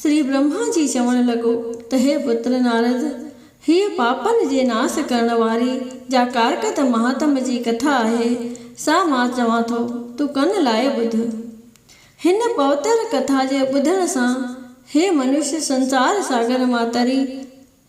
شري برهما جي چوڻ لڳو ته هي پتر نارد، هيء پاپن جي ناس ڪرڻ واري جا ڪارڪت مهاتم جي ڪٿا آهي، سا مان چوان ٿو، تون ڪن لائي ٻڌ. هن پوتر ڪٿا جي ٻڌڻ سان هي منش سنسار ساگر مان تري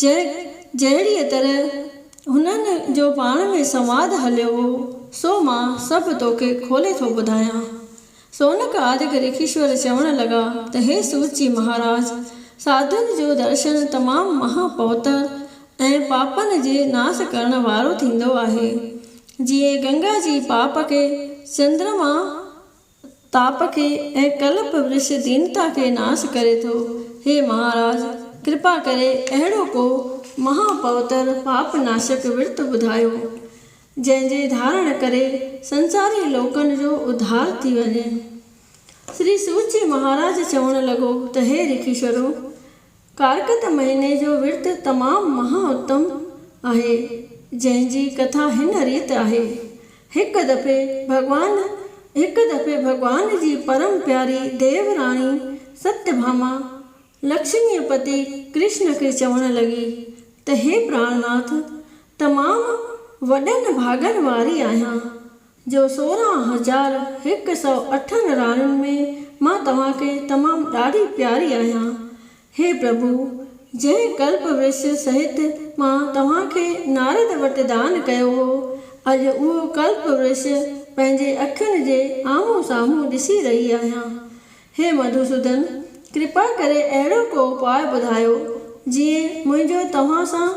جهڙيء طرح هنن جو پاڻ ۾ سنواد هليو هو، سو مان سڀ توکي کولي ٿو ٻڌايان. سونڪ آدڪ ريکيشور چوڻ لڳا ته هي سوت جي مهاراج! ساڌوء جو درشن تمام مها پوتر ۽ پاپن جي ناس ڪرڻ وارو ٿيندو آهي. جيئن گنگا جي پاپ کي چندرما تاپ کي ۽ ڪلپ ورش دينتا کي ناس ڪري ٿو. هي مهاراج! ڪرپا ڪري اهڙو ڪو مها پوتر پاپ ناشڪ ورت ٻڌايو، جنهن جي ڌارڻ ڪري سنساري لوڪن جو اڌار ٿي وڃي. شري سوت جي مهاراج چوڻ لڳو ته هي ريکيشورو! ڪارڪت مهيني جو ورت تمام مها اتم آهي، جنهن جي ڪٿا هن ريت آهي، هڪ دفعي ڀڳوان هڪ دفعي ڀڳوان جي پرم پياري ديو راڻي ستيا ڀاما لڪشميء پتي ڪرشن کي چوڻ لڳي ته هي پراڻناٿ تمام وڏن ڀاڳن واري آهيان، جو سورهن هزار هڪ سؤ اٺ نراڻين ۾ مان توهان کي تمام ڏاڍي پياري آهيان. هي پرڀو! جنهن ڪلپ ورس سهت مان توهان کي نارد وٽ دان ڪيو هو، اڄ اهو ڪلپ ورس پنهنجي اکين جي آمهون سامهون ڏسي رهي آهيان. هي مڌوسودن! ڪرپا ڪري اهڙو ڪو اپاء ٻڌايو، جيئن منهنجو توهان سان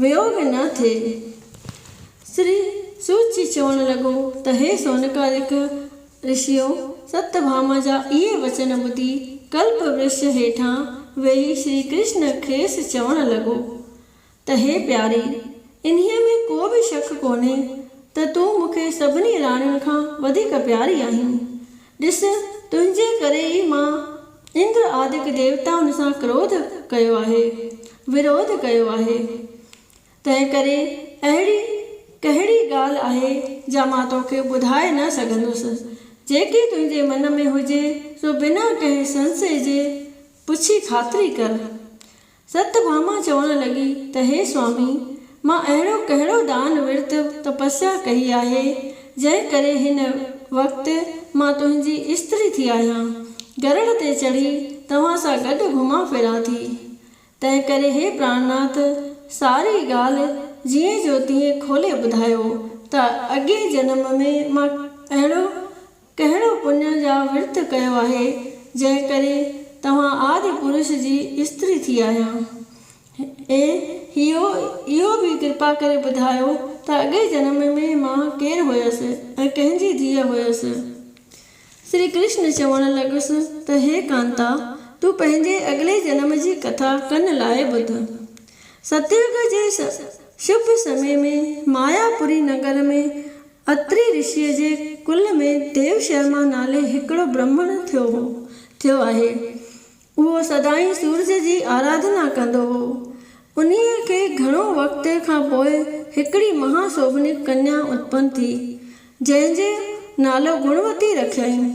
ويوگ نه ٿئي. شري سوت جي چوڻ لڳو ته هي سونڪالڪ رشيو! ست ڀاما جا اهي وچن ٻڌي ڪلپ ورش هيٺان ويهي شري ڪرشن کيس چوڻ لڳو ته هي پياري! انهيء ۾ ڪو به شڪ ڪونهي ته تون مون کي سڀني راڻين کان وڌيڪ پياري آهين. ڏس، تنهنجي ڪري ئي مان اندر آدڪ ديوتائن سان ڪروڌ ڪيو آهي، وروڌ ڪيو آهي، تنهنڪري اهڙي ڪهڙي ڳالهه آهي جا مان توکي ٻڌائي نه سگهندس، جيڪي تنهنجي من ۾ هجي سو بنا ڪنهن سنسي جي پڇي خاطري ڪر. ست ڀاما چوڻ لڳي ته هي سوامي! مان اهڙو ڪهڙو دان ورت تپسيا ڪئي آهي، جنهن ڪري هن وقت مان تنهنجي استري ٿي آهيان. گرڙ تي چڙهي توهان سان گڏ گهمان ڦران ٿي. تنهن ڪري هي پراڻناٿ! ساري ڳالهه جيئن جو تيئن کولي ٻڌايو ته اڳئين جنم ۾ مان اهڙو ڪهڙو پڃ جا ورت ڪيو آهي، جنهن ڪري توهان آدي پرش جي استري ٿي آهيان؟ ۽ هيء اهو به ڪرپا ڪري ٻڌايو ته اڳئين جنم ۾ مان ڪير هيس ۽ ڪنهن جي ڌيء هيس؟ شري ڪرشن چوڻ لڳس ته هي ڪانتا، تون پنهنجي اڳلي جنم جي ڪٿا ڪن لاء ٻڌ. ستيوگ جي شڀ سمي ۾ مايا پوري نگر ۾ اتري رشيء جي ڪل ۾ ديو شرما نالي هڪڙو برهمڻ ٿيو هو ٿيو آهي. اهو سدائين سورج جي آراڌنا ڪندو هو. انهيء کي گهڻو وقت کان پوء هڪڙي مها سوڀنيڪ ڪنيا اتپن ٿي، جنهن جو نالو گڻوتي رکيائين.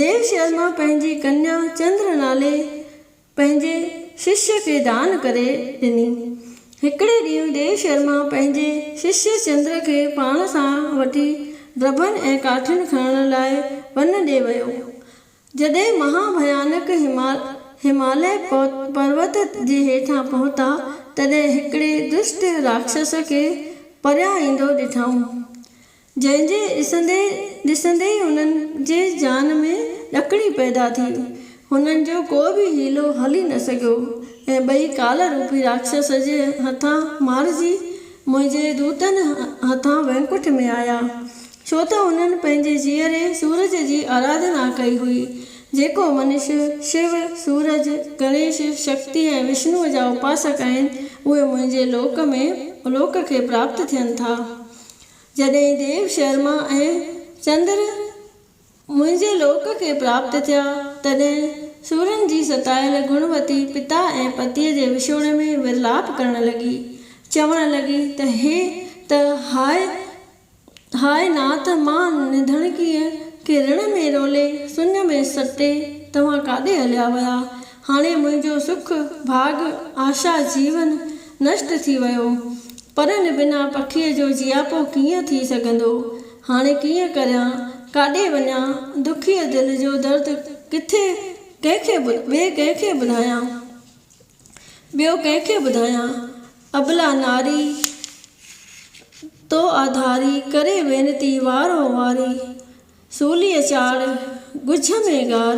ديو شرما پنهنجي ڪنيا چندر نالي پنهنجي ششيء کي دان ڪري ڏني. هڪڙي ڏينهن ديو شرما پنهنجي ششي چندر کي پاڻ سان وٺي ڊڀن ۽ ڪاٺين کڻڻ لاء ون ڏي ويو. جڏهن مها ڀيانڪ هماليه پروت جي هيٺان پهتا، تڏهن هڪڙي دشٽ راڪشس کي پريان ايندو ڏٺائون. جنهن جي ڏسندي ڏسندي ئي هنن جي جان ۾ ڏڪڻي پيدا ٿي. هنن جو ڪو به حيلو هلي نه سگهيو ۽ ٻئي ڪالا روپي راڪشس جي هٿان مارجي منهنجي دوتن هٿان وينڪٺ ۾ آيا. ڇو ته هنن پنهنجي جيئري سورج جي آراڌنا ڪئي هئي، جيڪو منش، شو، سورج، گڻيش، شڪتي ۽ وشنوء جا اپاسڪ آهن، اهي منهنجي لوڪ ۾ الوڪ کي پراپت ٿين ٿا. جڏهن ديو شرما ۽ چندر منهنجي لوڪ کي پراپت ٿيا، تڏهن سورن جي ستايل گڻوتي پتا ۽ پتيء جي وڇوڙي ۾ ورلاپ ڪرڻ لڳي، چوڻ لڳي ته هي ته هاء هاء نات مان نڌڻڪيء کي رڻ ۾ رولي، سڃ ۾ سٽي توهان ڪاڏي هليا ويا؟ هاڻي منهنجو سک، ڀاڳ، آشا، جيون نشٽ ٿي ويو. پرن بنا پکيء جو جياپو ڪيئن ٿي سگهندو؟ هاڻي ڪيئن ڪريان؟ ڪاڏي وڃان؟ دکيء دل جو درد ڪٿي ڪنهن کي ٻئي ڪنهن کي ٻڌايان؟ ٻيو ڪنهن کي ٻڌايان؟ ابلا ناري تو آڌاري، ڪري وينتي وار هو واري. سوليء چاڙهه، ڳجهه ۾ ڳار،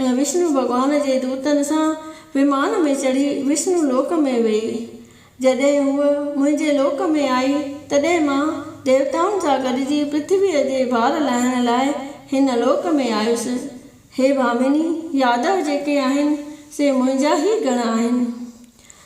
۽ وشنو ڀڳوان جي دوتن سان ومان ۾ چڙهي وشنو لوڪ ۾ ويئي. جڏهن هوء منهنجي لوڪ ۾ آئي، تڏهن مان ديوتائن سان گڏجي پرٿويء جي بار لاهڻ لاء هن لوڪ ۾ آيس. هي ڀامني، يادو جيڪي آهن، سي منهنجا ئي گڻ آهن.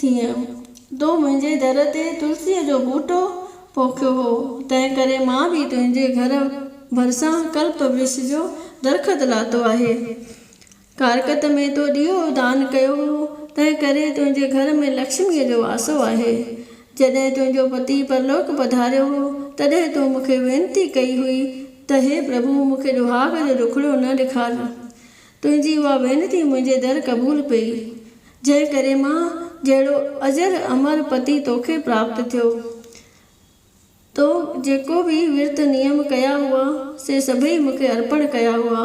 ٿيم. تو منهنجي در تي تلسيء جو ٻوٽو پوکيو هو، تنهنڪري مان به تنهنجي گهر ڀرسان ڪلپ ورڪش جو درخت لاتو آهي. ڪارڪت ۾ تو ڏيئو دان ڪيو هو، تنهنڪري تنهنجي گهر ۾ لڪشميء جو واسو آهي. جڏهن تنهنجو پتي پرلوڪ پڌاريو هو، تڏهن تو مون کي وينتي ڪئي هئي ته، هي پرڀو! مون کي ڏوهاڳ جو ڏکوڙيو نه ڏيکار. تنهنجي اها وينتي منهنجي در قبول پئي، جنهن ڪري مان جهڙو اجر امر پتي توکي پراپت ٿيو. تو جيڪو به ورت نيم ڪيا هئا، سي سڀئي مون کي ارپڻ ڪيا هئا،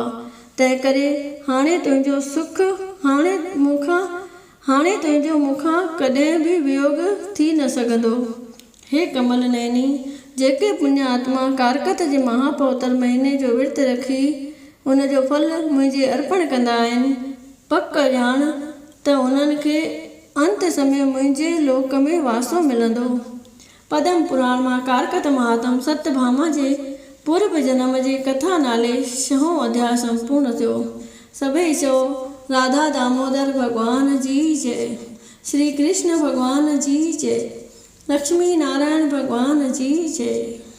تنهن ڪري هاڻي تنهنجو سک هاڻي مون کان هاڻي تنهنجو مون کان ڪڏهن به ويوڳ ٿي نه سگهندو. هي ڪمل نيني! جيڪي پڃ آتما ڪارڪت جي مها پوتر مهيني جو ورت رکي، ان جو ڦل منهنجي ارپڻ ڪندا آهن، پڪ ڄاڻ ته انهن کي انت سمي منهنجي لوڪ ۾ واسو ملندو. پدم پراڻ مان ڪارڪت مهاتم ست ڀاما جي پورڀ جنم جي ڪٿا نالي شهون اڌياء سمپورن ٿيو. سڀئي چئو، راڌا دامودر ڀڳوان جي جئه! شري ڪرشن ڀڳوان جي جئي. لڪشمي نارائڻ ڀڳوان جي جئي.